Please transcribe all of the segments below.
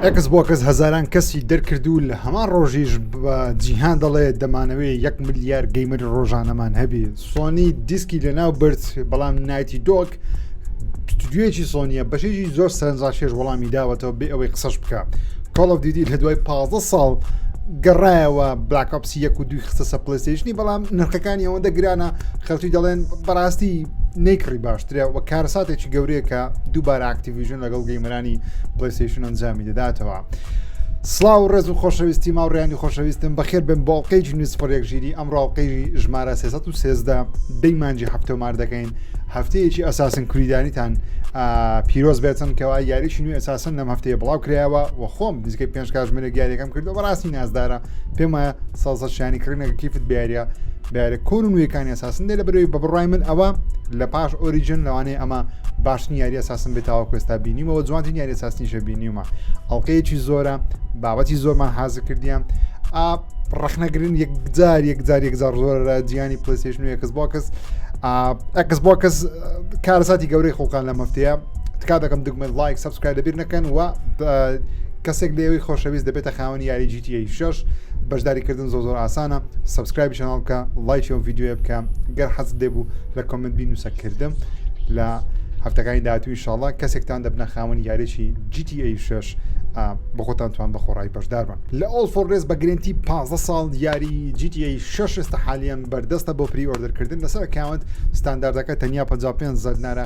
ئەکس بۆکەس هەزاران کەسی دەرکرد و لە هەمان ڕۆژیش بە جیهان دەڵێ دەمانەوەی یەک ملیار گەیمەر ڕۆژانەمان هەبی سۆنی دیسکی لەناو برد بەڵام نایتی دۆک دوێکی سۆنیە بەشێکی زۆر سەرنجاشێش وەڵامی داوەتەوە بێ ئەوەی قسەش بکە کۆڵف دیدی لە دوای 15 ساڵ گەڕایەوە بلاکپسی یەک و دوی خستە سە پلستیشنی بەڵام نرخەکانی ئەوەندە گرانە خەڵکی دەڵێن بەڕاستی نەیکڕی باش درێ و کارەساتێکی گەورەیە کە دووبارە ئاکتیڤژن لەگەڵ گەیمەرانی پلیسیشن ئەنجامی دەداتەوە. سلااو و ڕێز و خۆشەویستی ماوڕیانی خۆشەویستم بەخێر بم باڵقەیەکی نووسپڕێک ژیری ئەم ڕاوقەیژی ژمارە 313 دەی مانجی هەفتەمار دەکەین هەفتەیەکی ئەساسن کوریدانیتان پیرۆز بێتن کەوا یاریشی نوێ ئەساسن لەم هەفتەیە بڵاو کرایەوە و خۆم نزیکەی پێنج کاژمێنە گیارەکەم کردو بەڕاستی نازدارە پێم وایە سازە شانی کڕینەکە کیفت بیارە بیارە کۆن و نوێەکانی ئەساسن دێ لە بەرەوەی بە بڕای من ئەوە لە پاش ئۆریجن لەوانەیە ئەمە باشترین یاری ئەساسن بێتەوە کوێستا بینیمەوە جوانترین یاری ساسنیشە بینیومە ئەڵلقەیەکی زۆرە بابەتی زۆرمان حازر کردیان ڕخنەگرن یەکجار یەکجار یەکجار زۆر جیانی پلیسش نوێ کەس بۆ کەس ئەکس بۆ کەس کارەساتی گەورەی خۆکان لە مەفتەیە تکا دەکەم دگمە لایک سبسکرای دەبیر نەکەن و کەسێک لێوەی خۆشەویست دەبێتە خاوەنی یاری GTA 6 بەشداری کردن زۆ زۆر ئاسانە سبسکرایبی چناڵ بکە لایکی ئەو ڤیددیوە بکە گەر حەز دەبوو لە کۆمنت بینوسە کردم لە هەفتەکانی داهاتوو انشاءالله کەسێکتان دەبنە خاوەنی یارێکی GTA 6 بە خۆتان توان بە خۆڕای بەشداربن لە ئۆڵ فۆڕێز بە گرنتی 15 ساڵ یاری GTA 6 ئێستا حالیان بەردەستە بۆ پری ئۆردرکردن لەسەر کاونت ستانداردەکە تەنیا 55 زەرنارە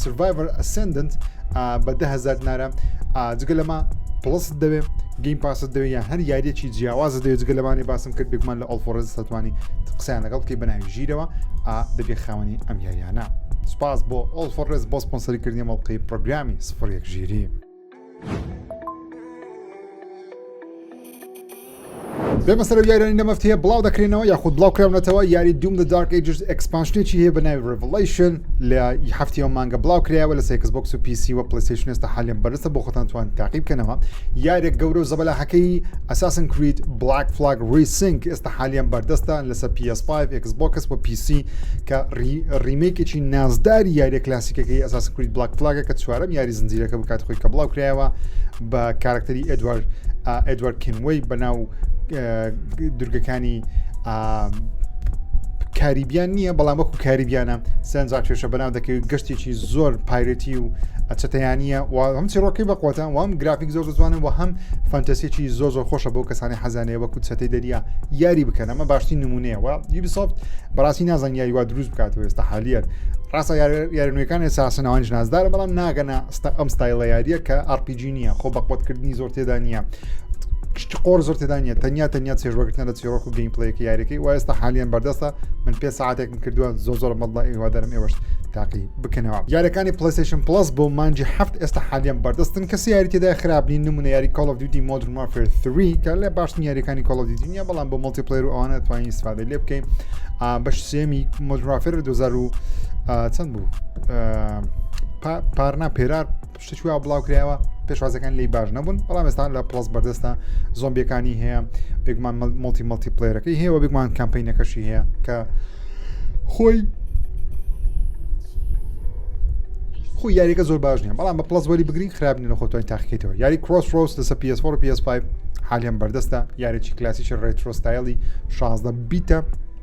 سڤایڤەر ئەسندنت بە دههزار نارە جگە لەمە پڵست دەوێت گەیم پاست دەوێت یان هەر یاریەکی جیاواز دەوێت جگە لەمانی باسم کرد بێکمان لە ئەڵفۆرز سەتوانی قسەیان لەگەڵ بکەی بەناوی ژیرەوە دەبێ خاوەنی ئەم یاریانە سپاس بۆ ئۆڵفۆرز بۆ سپۆنسەری کردنی مەڵقی پرۆگرامی سفر یەک ژیری. بێمە سەرەوە یارانی لە مەفت هەیە بڵاو دەکرێنەوە یاخود بڵاو کراونەتەوە یاری دوم لە دارک ئەجز ئەکسپانشنێکی هەیە بە ناوی ڕڤڵیشن لە هەفتیەوە مانگە بڵاو کرایەوە لە سێکس بۆکس و پیسی و پلیسیشنێستا حالیان بەرسە بۆ خۆتان توان تاقیب کەنەوە یارێک گەورە و زەبەلاحەکەی ئەساسن کریت بلاک فلاگ ریسنگ ئێستا حالیان بەردەستە لەسەر پی ئێس فایڤ، ئێکس بۆکس و پی سی کە ڕیمەیکێکی نازداری یاریە کلاسیکەکەی ئەساس کرید بلاک فلاگە کە چوارەم یاری زنجیرەکە بکات خۆی کە بڵاو کرایەوە بە کارکتەری ئەدوارد ئەدوارد کینوەی بەناو دورگەکانی کاریبیان نییە بەڵام وەکو کاریبیانە سنجا کێشە بەناو دەکەوێت گەشتێکی زۆر پایرەتی و ئەچەتەیانە و هەم چیڕۆکی بەقوتان وام گرافیک زۆر زوانن و هەم فانتەسیەکی زۆ زۆر خۆشە بۆ کەسانی حەزانەیە وەکو چەتەی دەریا یاری بکەن ئەمە باشترین نمونەیەوە یوبیسۆفت بەڕاستی نازان یاری وا دروست بکات وێستا حالیت ڕاستە یارنوێکان ساسنەوەنج نازدار بەڵام ناگەنا ستا ئەم ستایلە یاریە کە ئارپیجی نییە خۆ بەقوتکردنی زۆر تێدا نییە کشتی قۆر زۆر تێدا نیە تەنیا تەنیا چێژوەگرتنە لە چیرۆک و گەیمپلەیەکی یاریەکەی وایستا حالیان بەردەستە من پێ ساعاتێکم کردووە زۆ زۆر مەڵدا ئێوادەرم ئێوەش تاقی بکەنەوە یارەکانی پلەیستەیشن پڵەس بۆ مانجی هەفت ئێستا حالیان بەردەستن کەسی یاری تێدا خراپ نین نمونە یاری کۆڵ ئۆف دیوتی مۆدرن وارفێر 3 کە لە باشترین یاریەکانی کۆڵ ئۆف دیوتی نیە بەڵام بۆ مڵتی پلەیر و ئەوانە توانین استفادە لێ بکەین بەش سێمی مۆدرن وارفێر 2000 چەند بوو پارنا پێرار شتێکی وا بڵاو کرایەوە پێشوازەکان لی باش نەبوون بەڵام ئێستا لە پڵس بەردەستە زۆمبیەکانی هەیە بێگومان مڵتی مڵتی پلێرەکەی هەیە و بێگومان کەمپینەکەشی هەیە کە خۆی خو یاریەکە زۆر باش نیە بەڵام بە پلس وەری بگرین خراپ نە خۆتوانی تاقیکەیتەوە یاری کرۆس ڕۆس لەسە PS4 PS5 حالیان بەردەستە یارێکی کلاسیکی ڕێترۆستایلی 16 بیتە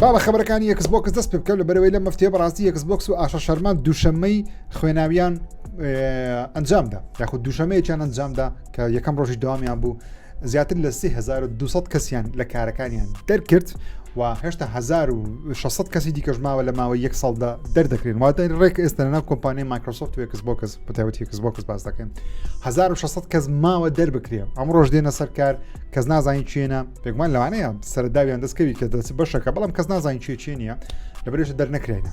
با بە خبرەکانی یەکس بۆکس دەست پێ بکەم لە بەرەوەی لە مەفتێ بەڕاستی یەکس بۆکس و ئاشە شەرمان دووشەمەی خوێناویان ئەنجامدا یاخود دووشەمەیەکیان ئەنجامدا کە یەکەم ڕۆژی دوامیان بوو زیاتر لە 3200 کەسیان لە کارەکانیان دەرکرد و هێشتا 1600 کەسی دیکەژماوە لە ماوەی یەک ساڵدا دەردەکرێن واتە ڕێک ئێستەنا کۆمپانیای مایکرۆسۆفت و یەکس بۆکس بەتابەتی کەس بۆ کەس باس دەکەن 1600 کەس ماوە دەربکرێ ئەم ڕۆژ دێنە سەرکار کەس نازانین چێنە پێکمان لەوانەیە سەرداویان دەستکەوی کە دەسی بەشەکە بەڵام کەس نازانین چێ چێ نیە لە برێشە دەرنەکرێنە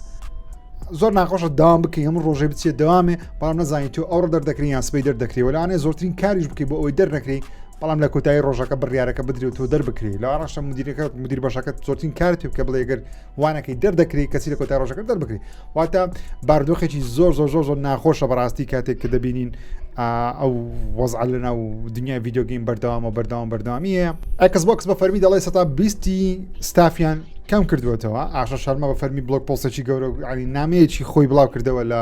زۆر ناخۆشە داوام بکەین ئەم ڕۆژێ بچێ دەوامێ بەڵام نزانین تۆ ئەوڕ دەردەکرین یان سبەی دەردەکری وەلانێ زۆرترین کاریش بکەی بۆ ئەوی دەرنەکری بەڵام لە کۆتایی ڕۆژەکە بڕیارەکە بدرێت تۆ دەربکری لە ئاڕاشە مدیرەکە مدیر بەشەکەت زۆرترین کارت پێ بکە بڵێگەر وانەکەی دەردەکری کەسی لە کۆتای ڕۆژەکە دەربکری واتە باردۆخێکی زۆر زۆر زۆر زۆر ناخۆشە بەڕاستی کاتێک کە دەبینین ئەو وەزع لە ناو دنیای یددیوگەین بەردەوامە بەردەوام بەردەوامیە ئەکس بۆکس بە فەرمی دەڵێ سەتا بیستی ستافیان کەم کردوێتەوە ئاشە شەرمە بە فەرمی بلوک پۆسێکی گەورە علی نامەیەکی خۆی بڵاو کردەوە لە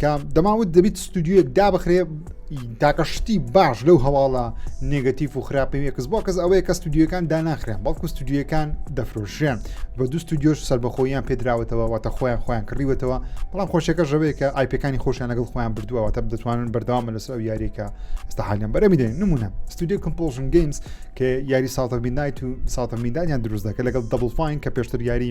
کە دەماوت دەبیت ستودیوەک دابخرێ تاکە شتی باش لەو هەواڵە نگەتیف و خراپەیەکەس بۆ کەس ئەوەیە کە ستودیوەکان داناخرێن بەڵکو ستودیوەکان دەفرۆشرێن بە دوو ستودیۆش سربەخۆیان پێدراوەتەوە واتە خۆیان خۆیان کڕیوەتەوە بەڵام خۆشەکە ژەوەیە کە ئایپەکانی خۆشیان لەگەڵ خۆیان بردووە تە دەتوانن بەردەوامە لەسەر ئەو یاریەکە ئستا حالیان بەرەمی دێن نمونە ستودیو کمپۆژن گەیمز کە یاری ساڵتە میدایت و ساڵتە میدانیان دروست دەکە لەگەڵ دەبڵ فین کە پێشتر یاری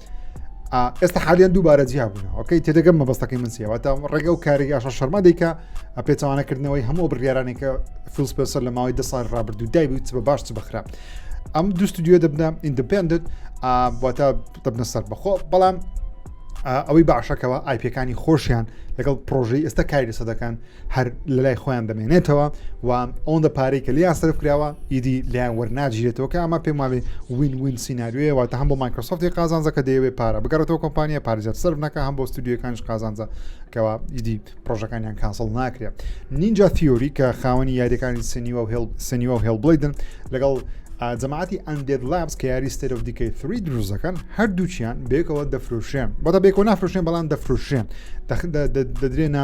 ئێستا حالیان دووبارە جیابوونەوەکەی تێدەگەم مەبەستەکەی من سیواتە ڕێگە و کاری یاشە شەرما دیکە پێچوانەکردنەوەی هەموو بڕیارانێکە فیلسپسەر لە ماوەی دە سال ڕابردوو دای بوویت بە باش بخرا ئەم دوو ستودیو دەبنە ئیندپندنت واتە دەبنە سەر بەخۆ بەڵام ئەوەی باشەکەەوە ئایپەکانی خۆشیان لەگەڵ پرۆژەی ئێستا کاری لەسە دەکەن هەر لە لای خۆیان دەمێنێتەوە و ئەوەندە پارەی کە لیان سرف کراوە ئیدی لیان وەرناگیرێتەوە کە ئەمە پێم وابێ وین وین سینناریوێ واتە هەم بۆ مایکرۆسۆفتی قازانزەکە دەیەوێ پارە بگەڕێتەوە کۆمپانیا پارێزت سرف نەکە هەم بۆ ستودیوەکانش قازانزە کەەوە ئیدی پرۆژەکانیان کاسڵ ناکرێت نینجا تیۆری کە خاوەنی یاریەکانی سنیوە و هێڵ سنیوە و هێڵ بڵیدن لەگەڵ جەماعتی ئەندێت لابس کە یاری ستێرۆف دیکەی فری دروست دەکەن هەردووچیان بێکەوە دەفروشێن بەدە بێکۆ نافروشێن بەڵام دەفروشێن دەدرێنە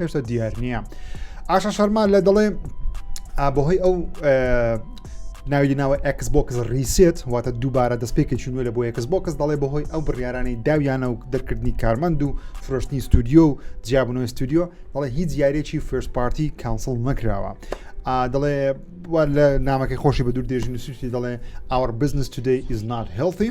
هێشتا دیار نییە ئاشە شەرما لە دەڵێ بەهۆی ئەو ناوی ناوە ئەکس بۆکس ریسێت واتە دووبارە دەستپێکی چونوە لە بۆ ئەکس بۆکس دەڵێ بەهۆی ئەو بڕیارانەی داویانە و دەرکردنی کارمەند و فرۆشتنی ستودیو و جیابنەوە ستودیو دەڵێ هیچ یاریێکی فرس پارتی کانسڵ نەکراوە دەڵێ لە نامەکەی خۆشی بە دوور دێژی نووسیتی دەڵێ ئاوەر بزنس تودی ئیزنات هێڵی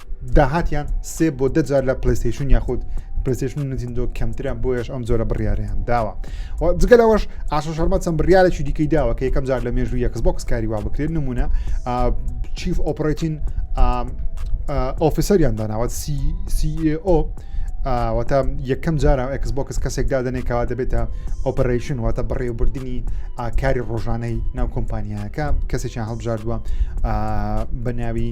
داهاتیان سێ بۆ دەجار لە پلیستیشن یاخود پرسیشن و نزیندۆ کەمترە بۆیش ئەم جۆرە بڕیاریان داوە جگە لەوەش ئاشە شەرمە چەند بڕیارێکی دیکەی داوە کە یەکەم جار لە مێژوو یەکس بۆکس کاری وا بکرێت نمونە چیف ئۆپرەتین ئۆفیسەریان داناوە CEO واتە یەکەم جارە ئەکس بۆکس کەسێک دادنێکەوە دەبێتە ئۆپەرشن واتە بەڕێوەبردننی ئاکاری ڕۆژانەی ناو کۆمپانیایەکە کەسێکیان هەڵبژاردووە بە ناوی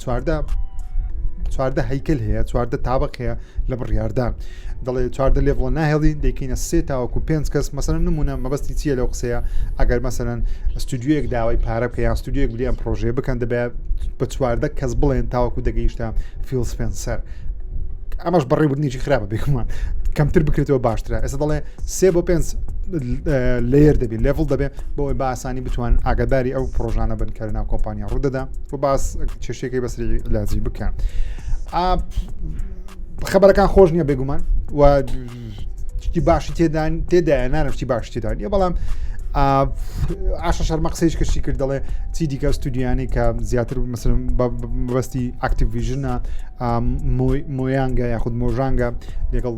چواردە چواردە هەیکل هەیە چواردە تابق هەیە لە بڕیاردە دەڵێ چواردە لێڤڵە ناهێڵین دەکەینە سێ تاوەکو پێنج کەس مەسەن نمونە مەبەستی چیە لەو قسەیە ئەگەر مەسەن ستودیوەک داوای پارە بکە یان ستودیوەک بلیان پرۆژێ بکەن دەبێت بە چواردە کەس بڵێن تاوەکو دەگەیشتە فیل سپێنسەر ئەمەش بەڕێبنیی خراپە بێکمان کەمتر بکرێتەوە باشترە ئێستا دەڵێ سێ بۆ پێنج لێر دەبێت لێڤڵ دەبێت بۆی باسانی بتوان ئاگداری ئەو پرۆژانە بن کە ناو کۆمپانیا ڕوودەدا و باس چێشتێکی بەسری لازی بکەن خبرەکان خۆش نییە بێگومان و شتی باشی تێدان تێدایە نانە شتی باش تێدان یە بەڵام ئاشە شەرمە قسەیش کەشی کرد دەڵێ چی دیکە ستودیانی کە زیاتر مثلم بەستی ئاکتیڤژنە مۆیانگە یاخود مۆژانگە لەگەڵ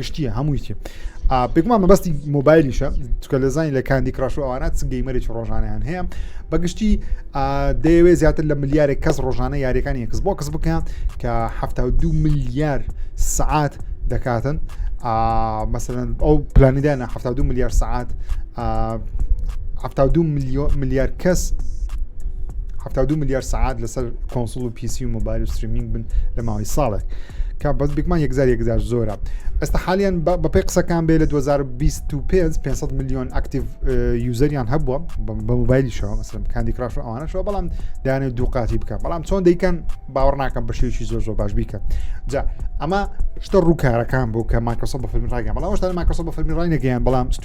گشتیە هەمووی چێ بگومان مەبەستی مۆبایلیشە چکە لە زانانی لە کاندی کراش و ئەوانات سنگەی مەرج ڕۆژانیان هەیە بەگشتی دەیەوێت زیاتر لە ملیارێک کەس ڕۆژانە یاریەکانی یەکس بۆ کەس بکەن کە هەفتا دو ملیار سعات دەکاتن مەسەن ئەو پلانیدانە هەفتا دو ملیار سعات هەفتا دو ملیۆ ملیار کەس هەفتا دو ملیار سعات لەسەر کۆنسڵ و پیسی و مۆبایل و ستریمینگ بن لە ماوەی ساڵێک کا بەس بگمان یەکزار یەکزار زۆرە ئێستا حالیان بەپی قسەکان بێ لە 2025 500 میلیۆن ئەکتیڤ یوزەریان هەبووە بە مۆبایلیشەوە مەسم کاندی کراش و ئەوانەشەوە بەڵام دایانە دووقاتی بکە بەڵام چۆن دەیکەن باوەڕ ناکەم بە شێوکی زۆر زۆر باش بیکە جا ئەمە شتە ڕووکارەکان بۆ کە ماکەسە بە فەرمی ڕایگەیان بەڵام شتان ماکەسە بە فەرمی ڕای نەگەیان بەڵام ست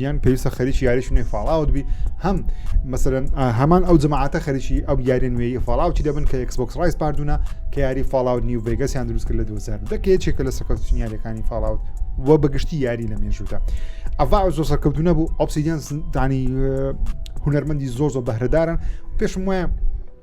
یان پێویستە خەریکی یاریش نوێ فاڵاوت بی هەم مەسەرەن هەمان ئەو جماعاتە خەریکی ئەو یاری نوێی فاڵاوتی دەبن کە ئەکسبکس ڕایس پاردوونە کە یاری فاڵاوت نیو ڤگەسیان دروست کرد لە 2000 دەکەیەکێکە لە سەکەوتنی یاریەکانی فاڵاوت و بەگشتی یاری لە مێژوودا ئەڤ زۆ سەرکەوتو نەبوو ئۆپسیدیان دانی هونەرمەندی زۆر زۆر بەهرەدارن پێشم وایە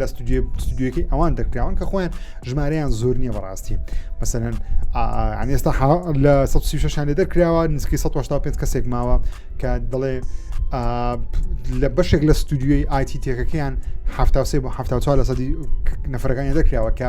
لە ستودیوەکەی ئەوان دەرکراون کە خۆیان ژمارەیان زۆر نییە بەڕاستی مەسەن ئەستا لە 16شان لێ دەرکراوە نزیکەی 1970 کەسێک ماوە کە دەڵێ لە بەشێک لە ستودیوی ئایتی تێکەکەیان ه بۆ ه لە سەدی نەفرەکانی دەکراوە کە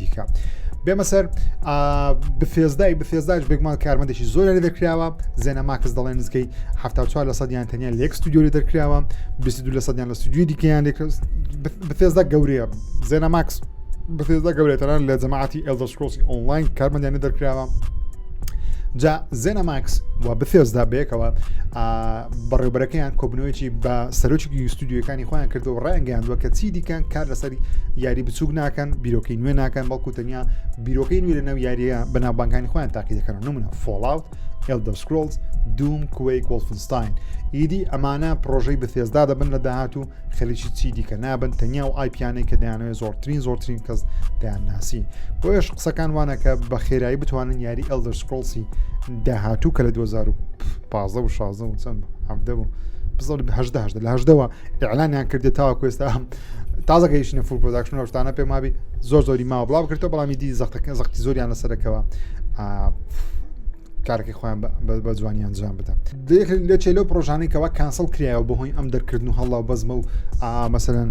دیکە بێمە سەر بفێزدای بفێزداش بێگومان کارمەندێکی زۆر لە دەکراوە زێنە ماکس دەڵێن نزیکەی ه لە سەدیان تەنیا لێک ستودیۆی دەکراوە 22 لە سەدیان لە ستودیوی دیکەیان لێک بفێزدا گەورەیە زێنە ماکس بفێزدا گەورێتەران لە جەماعتی ئێلدەسکۆسی ئۆنلاین کارمەندیان دەرکراوە جا زێنە ماکس و بفێزدا بەیەکەوە بەڕێوبەرەکەیان کۆبنەوەیەکی بە سەرۆکی یستودیوەکانی خۆیان کردو و ڕایانگەیاندووە کە چی دیکەن کار لەسەر یاری بچوک ناکەن بیرۆکەی نوێ ناکەن بەڵکو تەنیا بیرۆکەی نوێ لە ناو یاریە بەناوبانکانی خۆیان تاقی دەکەن نمونە فۆڵاوت ئلدەسکرۆلز دوم کوی کۆڵفنستاین ئیدی ئەمانە پرۆژەی بەثێزدا دەبن لە داهات و خەریکی چی دیکە نابن تەنیا و ئایپیانەی کە دەیانەوەی زۆرترین زۆرترین کەس دەیان ناسی بۆیش قسەکان وانەکە بە خێرایی بتوانن یاری ئەلدەسکرۆلسی داهاتوو کە لە 2000 پازە و شازە و چەند عبدە و هەدە هەدە لە هەدەوە ئەلانیان کردێ تاوا کوێستا هەم تازەگەیشتە فول پۆداکشن لە شتانە پێ مابی زۆر زۆری ماوە بڵاو کردەوە بەڵامی دی زەختەکە زەختی زۆریان لەسەرەکەەوە کارەکەی خۆیان بە جوانی ئەنجام بدەن لە چێ لەو پرۆژانەی کەەوە کانسڵ کرایەوە بەهۆی ئەم دەرکردن و هەڵا بەزمە و مەسەن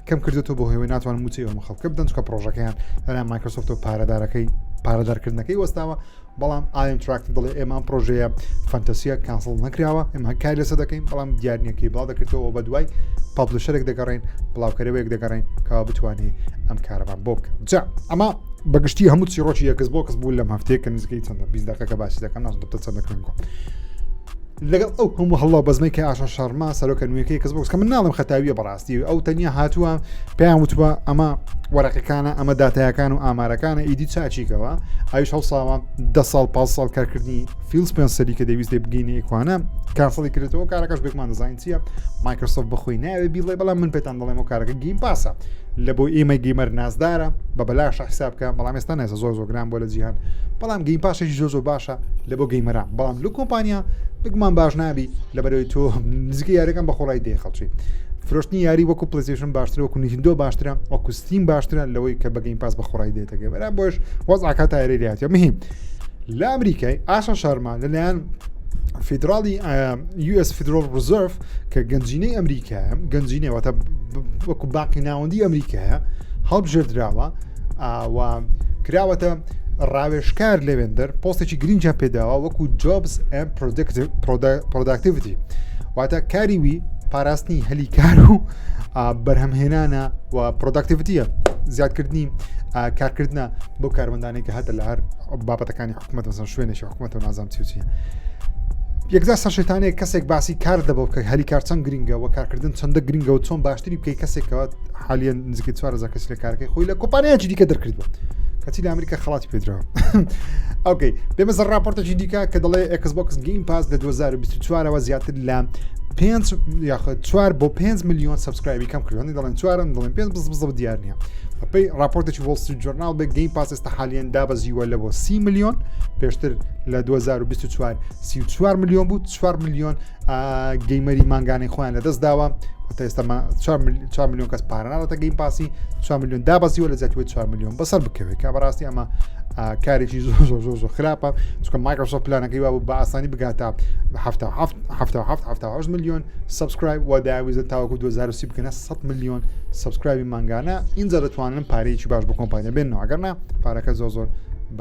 کەم کردێتەوە بۆ هەوێ ناتوان موچەی ئەوم خەڵکە بدەن چکە پرۆژەکەیان لەلا مایکرۆسۆفتەوە پارەدارەکەی پارەدارکردنەکەی وەستاوە بەڵام ئایم تراکت دڵێ ئێمان پرۆژەیە فەنتەسیە کانسڵ نەکراوە ئەم هەکای لەسە دەکەین بەڵام دیارنیەکەی بڵاو دەکردەوە بە دوای پابلشەرێک دەگەڕین بڵاوکەرەوەیەک دەگەڕین کەوا بتوانێت ئەم کارەبان بۆ بکە جا ئەمە بەگشتی هەموو چیڕۆکی یەکس بۆ کەس بوو لەم هەفتەیە کە نزیکەی چەندە بیست دقەکە باسی دەکەم ناز دەتە چەند دەکەن گۆ لەگەڵ ئەو هەموو هەڵا بەزمەی کە ئاشان شارما سەرۆکە نوێەکەی کەس بۆکس کە من ناڵم خەتاویە بەڕاست ئەو تەنیا هاتووە پێیان وتوە ئەمە وەرەقەکانە ئەمە داتایەکان و ئامارەکانە ئیدی چاچیکەوە ئایش هەڵساوە ده ساڵ پاس ساڵ کارکردنی فیلس پێنسەری کە دەویست بگەینە ئیکوانە کاسەڵی کرێتەوە کارەکەش بێکمان دەزانین چییە مایکرۆسۆف بخۆی ناوێ بیڵێ بەڵام من پێتان دەڵێمەوە کارەکە گیم پاسە لە بۆ ئێمە گەیمەر نازدارە بە بەلاشە حسابکە بەڵام ئێستا نێزە زۆر زۆگران بۆ لە جیهان بەڵام گەیم پاشێکی زۆ زۆ باشە لە بۆ گەیمەرە بەڵام لو کۆمپانیا بگومان باش نابی لەبەرەوەی تۆ نزیکە یارەکان بە خۆڵای دێ خەڵچی فرۆشتنی یاری وەکو پلسیشن باشتر وەکو نهندۆ باشترە وەکوستیم باشترە لەوەی کە بەگەین پاس بە خۆڕای دێتەکە بەرا بۆش وەزعکە تایری لاتە مهم لە ئەمریکای ئاشا شارمان لەلایەن فیدراڵی US فیدرال ڕزرف کە گەنجینەی ئەمریکایە گەنجینەوەتە وەکو باقی ناوەندی ئەمریکایە هەڵبژێردراوە ئاوا کراوەتە ڕاوێشکار لەوێندەر پۆستێکی گرنگە پێداوە وەکو جۆبز ئەم پرۆداکتیڤتی واتە کاری وی پاراستنی هەلی کار و بەرهەمهێنانە و پرۆداکتیڤتیە زیادکردنی کارکردە بۆ کارمەندانی کە هاتە لە هەر بابەتەکانی حکوومەت وەسەر شوێنێکی حکوومەت و نازام چوچی یەکدا سەرشتانەیە کەسێک باسی کار دەبەوە کە هەلی کار چەند گرنگەوە کارکردن چەندە گرنگەوە چۆن باشتری بکەی کەسێکەوە حالیان نزیکە چوار هزار کەسی لە کارەکەی خۆی لە کۆپانیاکی دیکە دەرکردووە کەچی لە ئەمریکا خڵاتی پێدراوە ئەوکەی بێمە زە راپۆرتەکی دیکە کە دەڵێ ئەکسبکس گەیم پاس لە 2024ەوە زیاتر لە پێنج یاخود چوار بۆ پێنج میلیۆن سبسکرایبی کەم کردوانی دەڵێن چوارن دەڵێن پێنج بز بزە دیار نیە بەپی راپۆرتێکی وڵسی جۆرنال بێ گەیم پاس ئێستا حالیان دابەزیوە لە بۆ سی میلیۆن پێشتر لە 2024 سی4 میلیۆن بوو 4 میلیۆن گەیمەری مانگانەی خۆیان لەدەست داوە تا ئێستا 4 میلیۆن کەس پاراناوەتە گەیم پاسی 4 میلیۆن دابەزیوە لە زیاتوە 4 میلیۆن بەسەر بکەوێت کا بەڕاستی ئەمە کارێکی زۆر زۆر زۆر زۆر خراپە چکە مایکرۆسۆ پلانەکەی وا بە ئاسانی بگاتە میلیۆن سبسکرایب و داویزە تاوەکو 2030 بکەنە 100 میلیۆن سبسکرایبی مانگانە اینجا دەتوانن پارەیەکی باش بۆ کۆمپانیا بێنەوە ئەگەرنا پارەکە زۆر زۆر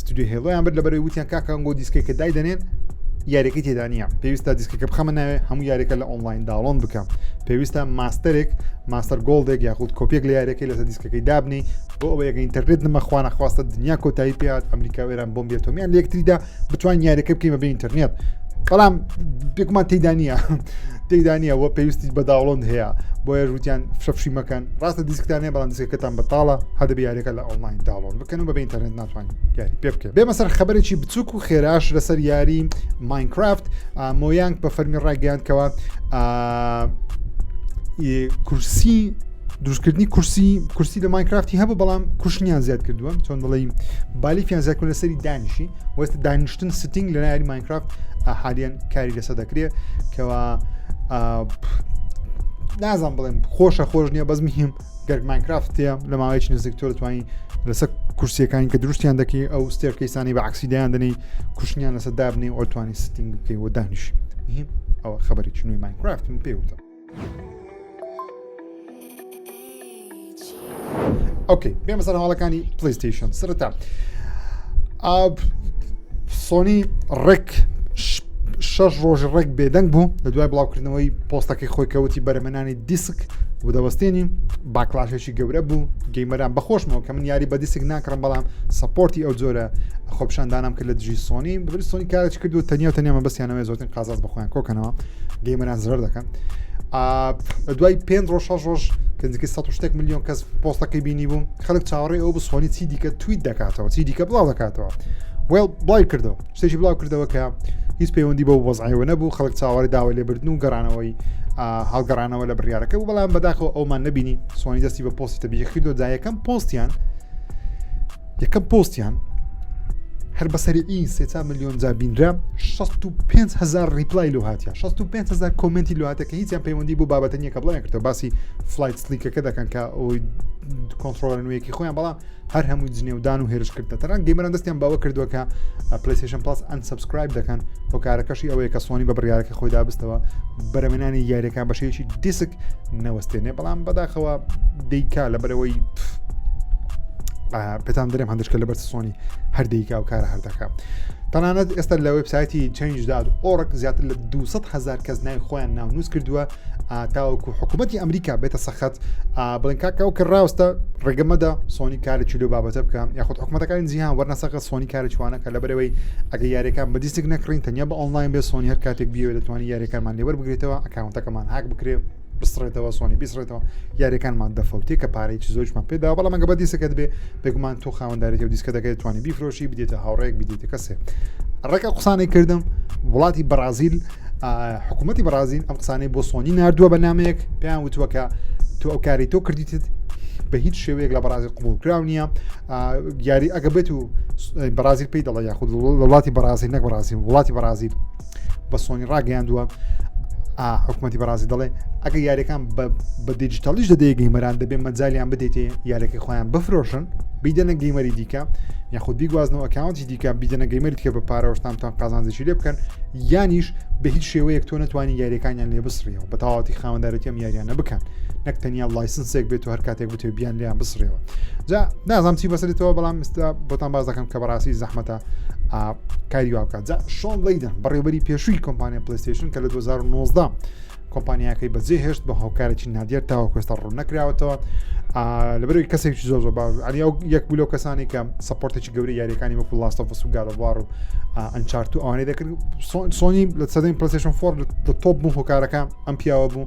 ستودیۆ هێڵۆیان برد لەبەرەوەی وتیان کاکە ئەنگۆ دیسکێکە دایدەنێن یاریەکەی تێدا نییە پێویستە دیسکەکە بخەمە ناوێ هەموو یاریەکە لە ئۆنلاین داڵۆن بکەم پێویستە ماستەرێک ماستەر گۆڵدێک یاخود کۆپێک لە یاریەکەی لەسەر دیسکەکەی دابنی بۆ ئەوە یەکە ئینتەرنێت نمەخواانە خواستە دنیا کۆتایی پێات ئەمریکا وێران بۆم بێتۆمیان لەکتریدا بتوان یاریەکە بکەیمە بە ئینتەرنێت بەڵام پێکمان تێدا نییە تێدا نییە وە پێویستی بە داوڵند هەیە بۆیە ژووتیان فشەفشی مەکەن ڕاستە دیسکتانێ بەڵام دیسکەکەتان بەتاڵە هەدە بیارەکە لە ئۆنلاین داڵۆن بکە کەن و بە ئینتەرنێت ناتوانین یاری پێ بکەین بێمە سەر خبرێکی بچووک و خێراش لەسەر یاری ماینکرافت مۆیانگ بە فەرمی ڕایگەیاندکەوە کورسی دروستکردنی کورسی کورسی لە ماینکرافتی هەبوو بەڵام کوشنیان زیاد کردووە چۆن دڵی بالیفیان زیادکن لەسەری دانیشی وەست دانیشتن ستنگ لە ناری ماینکرافت ئاحالیان کاری لەسە دەکرێت کەوا نازان بڵێن خۆشە خۆش نییە بەزمی هیم گەر ماینکرافت تێ لە ماوەیەکی نزیک تۆ دەتوانین لەسەر کورسیەکانی کە دروستیان دەکەی ئەو ستێرکەیسانی بە عکسی دەیان دەنی کوشتنیان لەسەر دابنی ئۆتوانی ستنگ بکەی و دانیش ئەوە خبری چنوی ماینکرافت من پێی وتە ئۆکەی بێمە سەر هەواڵەکانی پلیستیشن سرتا سۆنی ڕێک شش ڕۆژ ڕێک بێدەنگ بوو لە دوای بڵاوکردنەوەی پۆستەکەی خۆی کەوتی بەرەمەنانی دیسک و دەوەستێنین باکلاشێکی گەورە بوو گەیمەران بەخۆشمەوە کە من یاری بە دیسک ناکڕم بەڵام سپۆرتی ئەو جۆرە خۆپشاندانم کرد لە دژی سۆنی بری سۆنی کارێک کرد و تەنیا تەنیامە بەسیانەوەی زۆتن قازاز بەخۆیان کۆکەنەوە گەیمەران زرەر دەکەن لە دوای پێ ڕۆژ شەش ڕۆژ کەنجکی 16 میلیۆن کەس پۆستەکەی بینی بوو خەک چاوەڕێ ئەو بسۆنی چی دیکە تویت دەکاتەوە چی دیکە بڵاو دەکاتەوە وێڵ بڵای کردەوە شتێکی بڵاو کردەوە کە هیچ پەیوەندی بەو وەزعەوە نەبوو خەڵک چاوەڕی داوە لێبردن و گەڕانەوەی هەڵگەڕانەوە لە بڕارەکە و بەڵام بەداخەوە ئەومان نبینی سوانی دەستی بە پۆستی تەبیە کردو دا یەکەم پۆستیان یەکەم پۆستیان هەر بەسەری ئین سێتا میلیۆن جا بینرا 65هزار ریپلای لە هااتە 65هزار کۆمنتی لە هااتەکە هیچیان پەیوەندی بۆ بابەتە نیە کە بڵێن کردەوە باسی فلایت سلیکەکە دەکەن کە ئەوی کۆنتترۆلە نوێیەکی خۆیان بەڵام هەر هەموو جنێودان و هێرشکردە تەران گەیمەران دەستیان باوە کردووە کە پلیسیشن پاس ئەن سبسکرایب دەکەن هۆکارەکەشی ئەوەیە کە سۆنی بە بڕارەکە خۆی دابستەوە بەرەمێنانی یاریەکە بەشێکی دیسک نەوەستێنێ بەڵام بەداخەوە دیکا لە بەرەوەی پێتان درێم هەندشکە لە بەر سۆنی هەردەیکا و کارە هەردەکە تەنانەت ئێستا لە وبسایەتی چنجداد ئۆرک زیاتر لە 200 هزار کەس ناوی خۆیان ناونووس کردووە تاوەکو حکوومەتتی ئەمریکا بێتە سەخت بڵێن کاکەەوە کە ڕاستە ڕێگەمەدا سۆنی کارێکی لەو بابەتە بکەم یاخود حکوومەتەکانی جیهان وەرنەسەقە سۆنی کارە چوانەکە لە بەرەوەی ئەگە یاریەکان بە دیستێک نەکڕین تەنیا بە ئۆنلاین بێ سۆنی هەر کاتێک بیوە دەتوانانی یاریەکانمان لێوەر بگرێتەوە ئەکاونتەکەمان هاک بکرێ بسڕێتەوە سۆنی بیسڕێتەوە یاریەکانمان دەفەوتێ کە پارێکی زۆرمان پێدا بەڵام مەگە بە دیسەکەت بێ بێگومان تۆ خاوەندارێتی و دیسکە دەکەێت توانی بیفرۆشی بدێتە هاوڕێک بدێتە کەسێ ڕێکە قسانەی کردم وڵاتی بەرازیل حکوومەتتی بەرازین ئەم قسانەی بۆ سۆنی نردووە بە نامەیەک پێیان وتووە کە تۆ ئەو کاری تۆ کردیتت بە هیچ شێوەیەک لە بەرازی قوبولکرااو نییە یاری ئەگە بێت و بەرازیل پێی دەڵە یاخود وڵاتی بەرازی نەک بەرازی وڵاتی بەرازیل بە سۆنی ڕاگەیاندووە حکوومەتتی بەڕازی دەڵێ ئەگە یاریەکان بە دیجیتەڵیش دەدەیە گەیمەران دەبێ مەجاالیان بدەیتێ یارەکەی خۆیان بفرۆشن بیدەنە گەیمەری دیکە یاخود بیگوازنەوە کاونتی دیکە بیدەنە گەیمەری دیکە بە پارەوەشتانتان قازانجێکی لێ بکەن یانیش بە هیچ شێوەیەک تۆ نتوانانی یاریەکانیان لێ بسرەوە بە تەواتی خاوەندارەتیەم یاریانە بکەن نەک تەنیا لایسنسێک بێت و هەر کاتێک بتێ بیان لیان بسرەوە جا نازانام چی بەسرێتەوە بەڵام ئستا بۆتان باز دەکەم کە بەڕاستی زەحمەتە کاری واکە جا شۆن لەیدن بەڕێوبەری پێشووی کۆمپانیا پلیستیشن کە لە 2019 کۆمپانیاکەی بەجێ هێشت بە هۆکارێکی نادیار تاوەکوێستا ڕوون نەکراوەتەوە لەبەرەوەی کەسێکی زۆر زۆر باش ئەنیا یەک بوو لەو کەسانی کە سپۆرتێکی گەوری یاریەکانی وەکو لاستەفس و گارەوار و ئەنچارت و ئەوانەی دەکرد سۆنی لە سەدەین پرسشن فۆر لە تۆپ بوو هۆکارەکە ئەم پیاوە بوو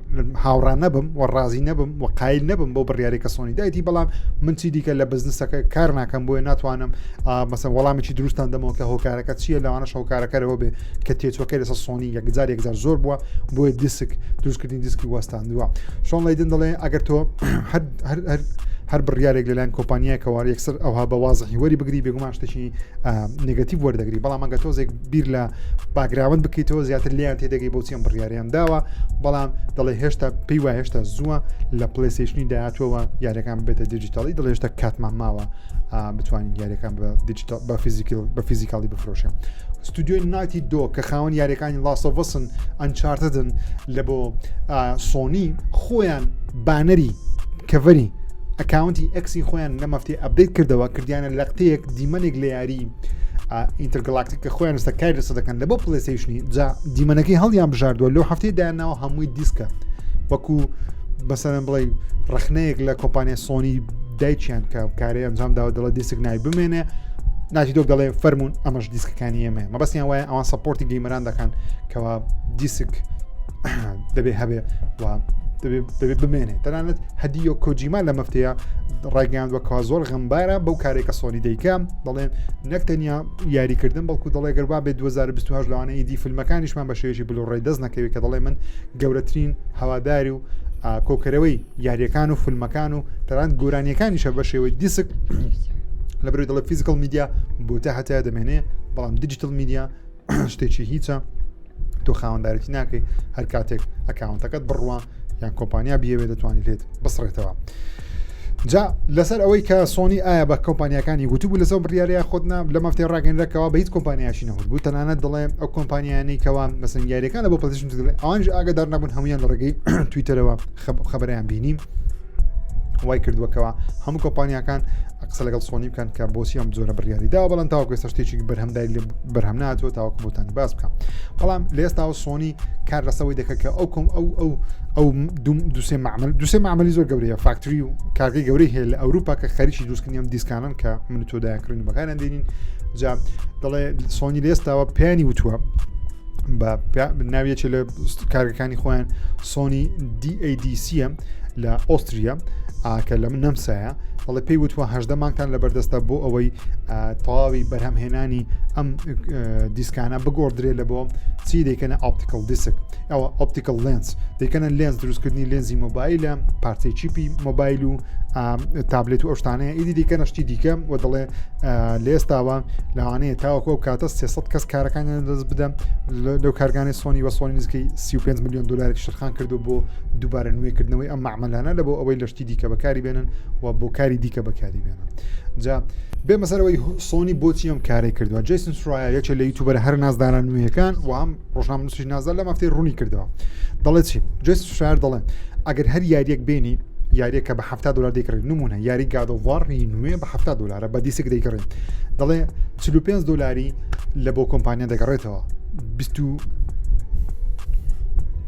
هاوڕان نەبم و ڕازی نەبم و قایل نەبم بۆ بڕیاری کە سۆنی دایتی بەڵام من چی دیکە لە بزنسەکە کار ناکەم بۆیە ناتوانم مەسە وەڵامێکی دروستان دەمەوە کە هۆکارەکە چییە لەوانە شەوکارەکەەوە بێ کە تێچوەکە لەسە سۆنی یەکجار یەکجار زۆر بووە بۆیە دیسک دروستکردنی دیسکی وەستاندووە شۆن لەیدن دەڵێ ئەگەر تۆ هەر بڕیارێک لەلایەن کۆمپانیایکەوە یەکسەر ئەوها بە وازە هیوەری بگری بێگومان شتێکی نگەتیب وەردەگری بەڵام ئەگە تۆزێک بیر لە باگراوند بکەیتەوە زیاتر لیان تێدەگەی بۆچی ئەم بڕیاریان داوە بەڵام دەڵێ هێشتا پێی وای هێشتا زووە لە پلسیشنی داهاتوەوە یاریەکان بێتە دیجیتالی دڵ هێشتا کاتمان ماوە بتوانین یاریەکان بە دیجیتال بە فیزیکل بە فیزیکاڵی بفرۆشە ستودیۆی ناتی دۆ کە خاوەن یاریەکانی لاسەڤسن ئەنچارتدن لە بۆ سۆنی خۆیان بانەری کەڤەری ئەکاونتی ئەکسی خۆیان لە مەفتی ئەبدەیت کردەوە کردیانە لەقتەیەک دیمەنێک لە یاری ئینترگلاکتیک کە خۆیان ستا کاری لەسە دەکەن لە بۆ پلسیشنی جا دیمەنەکەی هەڵیان بژاردووە لەو هەفتەی دایانناوە هەمووی دیسکە وەکو بەسەرم بڵێ ڕخنەیەک لە کۆمپانیا سۆنی دایچیان کە کارێ ئەنجام داوە دەڵە دیسک نای بمێنێ ناتی دۆک دەڵێ فەرمونون ئەمەش دیسکەکانی ئێمە مەبەستیان وایە ئەوان سپۆرتی گەیمەران دەکەن کەوا دیسک دەبێ هەبێ و دەبێت بمێنێت تەنانەت هەدیۆ کۆجیما لە مەفتەیە ڕایگەیان وەکەوا زۆر غەمبارە بەو کارێکە سۆنی دەیکەم دەڵێن نەک تەنیا یاریکردن بەڵکو دەڵێ گەربا بێت 2020 لەوانە ئیدی فیلمەکانیشمان بە شێژی بلوڕێ دەست نەکەوێت کە دەڵێ من گەورەترین هەواداری و کۆکەرەوەی یاریەکان و فیلمەکان و تەران گۆرانیەکانیشە بە شێوەی دیسک لە بەروی دەڵێ فیزیکل میدیا بۆتە هەتا دەمێنێ بەڵام دیجیتل میدیا شتێکی هیچە تۆ خاوەندارێتی ناکەی هەر کاتێک ئەکاونتەکەت بڕوە یان کۆمپانیا بیەوێ دەتوانانی لێت بسڕێتەوە. جا لەسەر ئەوەی کە سۆنی ئایا بە کۆمپانیەکانی گوتوبوو لەسەر بڕیارەیە خۆتنا لە مەفتێ ڕاگەنرەکەەوە بە هیچ کۆمپانیاشی نەهور بوو تەنانەت دەڵێ ئەو کۆمپانیانی کەوا مەسن یاریەکان لە بۆ پلشن ئەوانش ئاگدار نەبوون هەمویان لە ڕێگەی تویتەرەوە خبریان بینیم وای کردووەکەەوە هەموو کۆمپانیاکان قسە لەگەڵ سۆنی بکەن کە بۆچی ئەم زۆرە بڕیاری دا بەڵند تاوکە سە شتێکی بەرهەمدای لە بەرهەم ناتوە تاوەکو بۆتان باس بکەم بەڵام لە ئێستاوە سۆنی کار لەسەوەی دەکە کە ئەو کۆم ئەو ئەو ئەو دوسێ معمل دوسێ معملی زۆر گەورەیە فاکتری و کارگەی گەورەی هەیە لە ئەوروپا کە خەریکی دروستکردنیام دیسکانن کە من تۆدایکردن بەکاران دێنین جا دەڵێ سۆنی لە ئێستاوە پیانی وتووە بە ناویەکی لە کارگەکانی خۆیان سۆنی DADCM لە ئۆستریا کە لە من نەمسایە بەڵێ پێی وتوە هەدە مانگتان لە بەردەستە بۆ ئەوەی تەواوی بەرهەمهێنانی ئەم دیسکانە بگۆدرێت لە بۆ چی دەکەنە ئاپتیکل دیسک ئەوە ئۆپتیکل لێنس دەکەنە لێنس دروستکردنی لێنزی مۆبایلە پارچەی چیپی مۆبایل و تابلێت و ئەوشتانەیە ئیدی دیکەنە شتی دیکە و دەڵێ لێستاوە لەوانەیە تاوەکو ئەو کاتە 300 کەس کارەکانیان دەست بدەم لەو کارگانانی سۆنی وە سۆنی نزیکەی 35 میلیۆن دلار شرخان کردو بۆ دووبارە نوێکردنەوەی ئەم معمەلانە لە بۆ ئەوەی لە شتی دیکە بەکاری بێنن و بۆ کاری دیکە بەکاری بێنن جا بێ مەسەرەوەی سۆنی بۆچی ئەم کارێک کردووە جیسن سرایە یەکێ لە یوتوبەر هەر نازداران نوێیەکان و هەم ڕۆژنام نووسش نازدار لە مافتەی ڕوونی کردەوە دەڵێت چی جیسن سرایەر دەڵێن ئەگەر هەر یاریەک بێنی یاریە کە بە ه دلار دەیکڕێت نمونە یاری گادۆڤڕی نوێ بە ه دلارە بە دیسک دەیکڕێت دەڵێ 5 دلاری لە بۆ کۆمپانیا دەگەڕێتەوە 20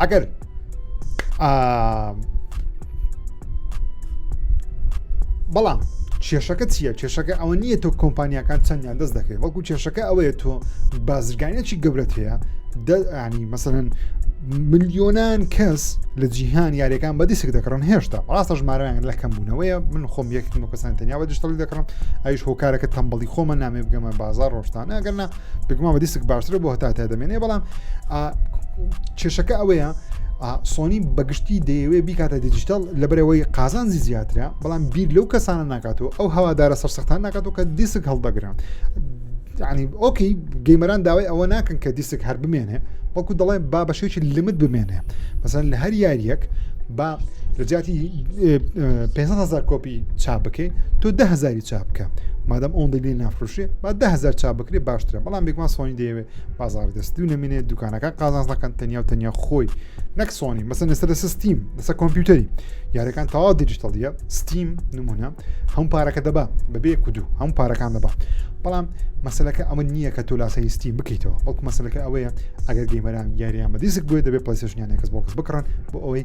ئەگەر بەڵام کێشەکە چییە کێشەکە ئەوە نییە تۆ کۆمپانیەکان چەندیان دەست دەکەی وەکو کێشەکە ئەوەیە تۆ بازرگانێکی گەورەت هەیە دەنی مەسەن ملیۆنان کەس لە جیهان یاریەکان بە دیسک دەکڕن هێشتا ڕاستە ژمارەیان لە کەم بوونەوەیە من خۆم یەکتمە کەسان تەنیا بە دشتڵی دەکڕم ئەوش هۆکارەکە تەمبڵی خۆمە نامێ بگەمە بازار ڕۆشتانە گەرنا بگومان بە دیسک باشترە بۆ هەتا تا دەمێنێ بەڵام کێشەکە ئەوەیە سۆنی بەگشتی دەیەوێ بیکاتە دیجیتال لە بەرەوەی قازانزی زیاترە بەڵام بیر لەو کەسانە ناکاتەوە ئەو هەوادارە سەرسەختان ناکاتەوە کە دیسک هەڵدەگرن ینی ئۆکی گەیمەران داوای ئەوە ناکەن کە دیسک هەر بمێنێ وەکو دەڵێ با بەشێکی لمت بمێنێ بەسەن لە هەر یاریەک با لە جیاتی 500هزار کۆپی چا بکەین تۆ دههزاری چابکە مادەم ئەوەندە لێ نافرۆشێ با ده هزار چا بکرێ باشترە بەڵام بێکمان سۆنی دەیەوێت بازار دەست دوو نمێنێت دوکانەکە قازانز نەکەن تەنیا و تەنیا خۆی نەک سۆنی مەسن لەسەر لەسە ستیم لەسە کۆمپیوتەری یارەکان تەوا دیجیتەڵە ستیم نمونە هەم پارەکە دەبا بەبێ کودو هەم پارەکان دەبا بەڵام مەسلەکە ئەمە نییە کە تۆ لاسایی ستیم بکەیتەوە بەڵکو مەسلەکە ئەوەیە ئەگەر گەیمەران یاریان بە دیسک بێت دەبێت پلسیشنیان کەس بۆ کەس بکڕن بۆ ئەوەی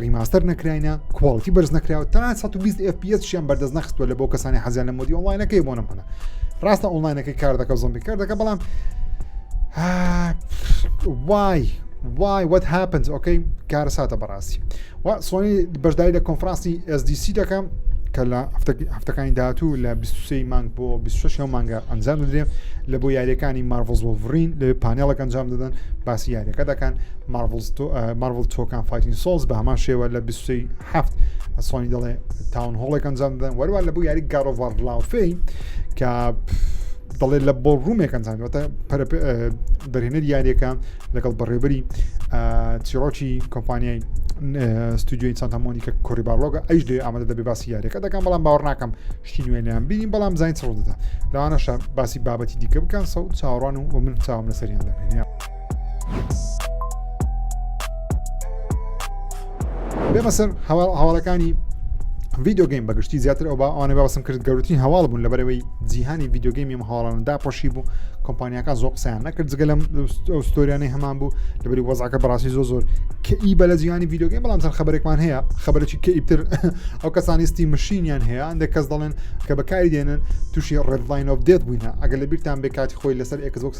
ڕیماستەر نەکراینە کواڵتی بەرز نەکراوە تا 120 FPS شیان بەردەست نەخستوە لە بۆ کەسانی حەزیان لە مۆدی ئۆنلاینەکەی بۆ نمونە ڕاستە ئۆنلاینەکەی کار دەکە زۆمبی کار دەکە بەڵام وای وای وەت هاپنز ئۆکەی کارە ساتە بەڕاستی و سۆنی بەشداری لە کۆنفرانسی SDC دەکەم کە لە هەفتەکانی داهاتوو لە 23 مانگ بۆ 26 مانگە ئەنجام دەدرێن لە بۆ یاریەکانی مارڤۆز وڵڤرین لە پانێڵک ئەنجام دەدەن باسی یاریەکە دەکەن مارڤڵ تۆکان فایتین سۆڵز بە هەمان شێوە لە 27 سۆنی دەڵێ تاون هۆڵێک ئەنجام دەدەن وەروان لە بۆ یاری گارۆڤار لاوفەی کە دەڵێ لە بۆ ڕوومێک ئەنجامەتە دەرهێنەر یاریەکە لەگەڵ بەڕێبەری چیرۆکی کۆمپانیای ستودیوی سانتامۆنی کە کۆری باڵۆگە ئەیش دێ ئامادە دەبێ باسی یاریەکە دەکەم بەڵام باوەڕ ناکەم شتی نوێنیان بینی بەڵام زانین چڕ دەدا لەوانەشە باسی بابەتی دیکە بکەن سەوت چاوەڕوان و من چاوم لەسەریان دەبێنە. بێمە سەر هەواڵەکانی ڤیددیوگەیم بەگشتی زیاتر ئەو ئەوانە باسم کرد گەورترین هەواڵ بوون لە بەرەوەی جیهانی ڤیددیوگەیم ئەم هەواڵانە داپۆشی بوو کۆمپانیەکان زۆر قسەیان نەکرد جگە لەم ئەوستۆریانەی هەمان بوو لەبری وەزعەکە بەڕاستی زۆ زۆر کە ئی بە لە جیهانی ڤیددیوگەیم بەڵام سەر خبرێکمان هەیە خبرێکی کە ئیتر ئەو کەسانیستی مشینیان هەیە ئەندێک کەس دەڵێن کە بەکاری دێنن تووشی ڕێدلاین ئۆف دێت بووینە ئەگەر لە بیرتان بێکاتی خۆی لەسەر ئەکزۆکس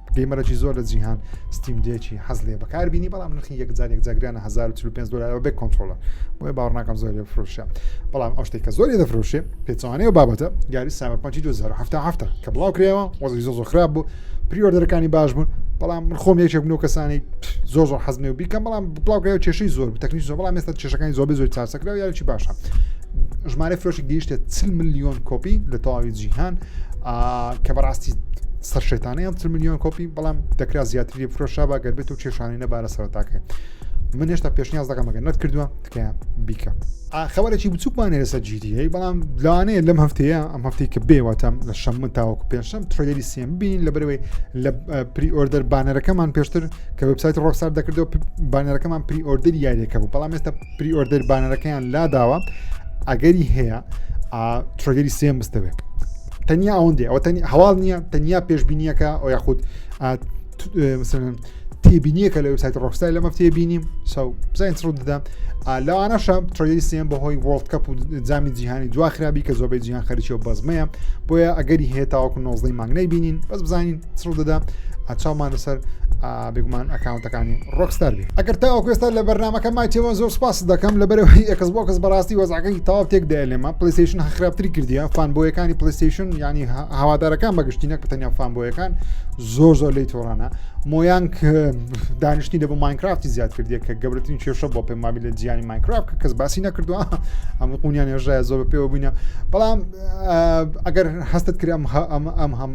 گەیمەرەکی زۆر لە جیهان ستیم دێکی حەز لێ بەکار بینی بەڵام نرخی یەکجار یەکجاگرانە 1940 دلار بێ کۆنتترۆلە بۆیە باوەڕناکەم زۆر لێ فرۆشە بەڵام ئەو شتێک کە زۆر لێ دەفرۆشێ پێچوانەیە و بابەتە گاری سابەرپەنچی 2007 کە بڵاو کرێەوە وەزی زۆ زۆ خراپ بوو پریۆردەرەکانی باش بوون بەڵام من خۆم یەکێک بنەوە کەسانی زۆر زۆر حەزنێ و بیکەم بەڵام بڵاوکراوە کێشەی زۆر تەکنیش زۆر بەڵام مێستا کێشەکانی زۆر زۆر چاسەکراوە یاچی باشە ژمارە فرۆشی گەیشتە 40 میلیۆن کۆپی لە تەواوی جیهان کە بەڕاستی سەر شێتانەی ئەم میلیۆن کۆپی بەڵام دەکرا زیاتری لێ فرۆشابا گەر بێت و کێشانی نەبارە سەرتاکە من هێشتا پێشنیاز دەکەمەگە نەت کردووە تکە بیکە خەوەرێکی بچووکمانێ لەسەر جیدیی بەڵام لانەیە لەم هەفتەیە ئەم هەفتەی کە بێواتەم لە شەم من تاوەکو پێشم ترێدەری سێم بین لە بەرەوەی لە پری ئۆردەر بانەرەکەمان پێشتر کە وبسایت ڕۆکسار دەکردەوە بانەرەکەمان پری ئۆردەری یاریەکە بوو بەڵام ئێستا پری ئۆردەر بانەرەکەیان لاداوە ئەگەری هەیە ترێدەری سێم بستەوێت تەنیا ئەوەندێ ئەوە هەواڵ نییە تەنیا پێشببینیەکە ئەو یاخود تێبینیەکە لە وسایت ڕۆستای لەمە تێبینیم ساو بزانین ڕوو دەدا لەوانەشە ترۆی سێن بەهۆی وڵت کەپ و جامی جیهانی دواخرابی کە زۆربەی جیهان خەرچی و بەزمەیە بۆیە ئەگەری هەیە تاوەکو نۆزدەی مانگنەی بینین بەس بزانین سڕدەدا چاومانە سەر بگومان ئەکاونتەکانی ڕۆکستار بێ ئەگەر تا ئەوکوێستا لە بەرنمەکە مایتەوە زۆر سپاس دەکەم لە بەرەوەی ئەکس بۆ کەس بەڕاستی وەزعەکەی تاو تێک دێ لێمە پلیسیشن خراپتری کردیە فان بۆیەکانی پلیسیشن ینی هاوادارەکان بەگشتی نەک بتەنیا فان بۆیەکان زۆر زۆر لی تۆڕانە مۆیان دانیشتی لە بۆ ماینکرافتی زیاد کردیە کە گەورترین کێشە بۆ پێ مابی لە جیانی ماینکرافت کە کەس باسی نەکردووە ئەم قونیان ێژای زۆر بە پێوە بووینە بەڵام ئەگەر هەستت کرد ئەم ئەم هەم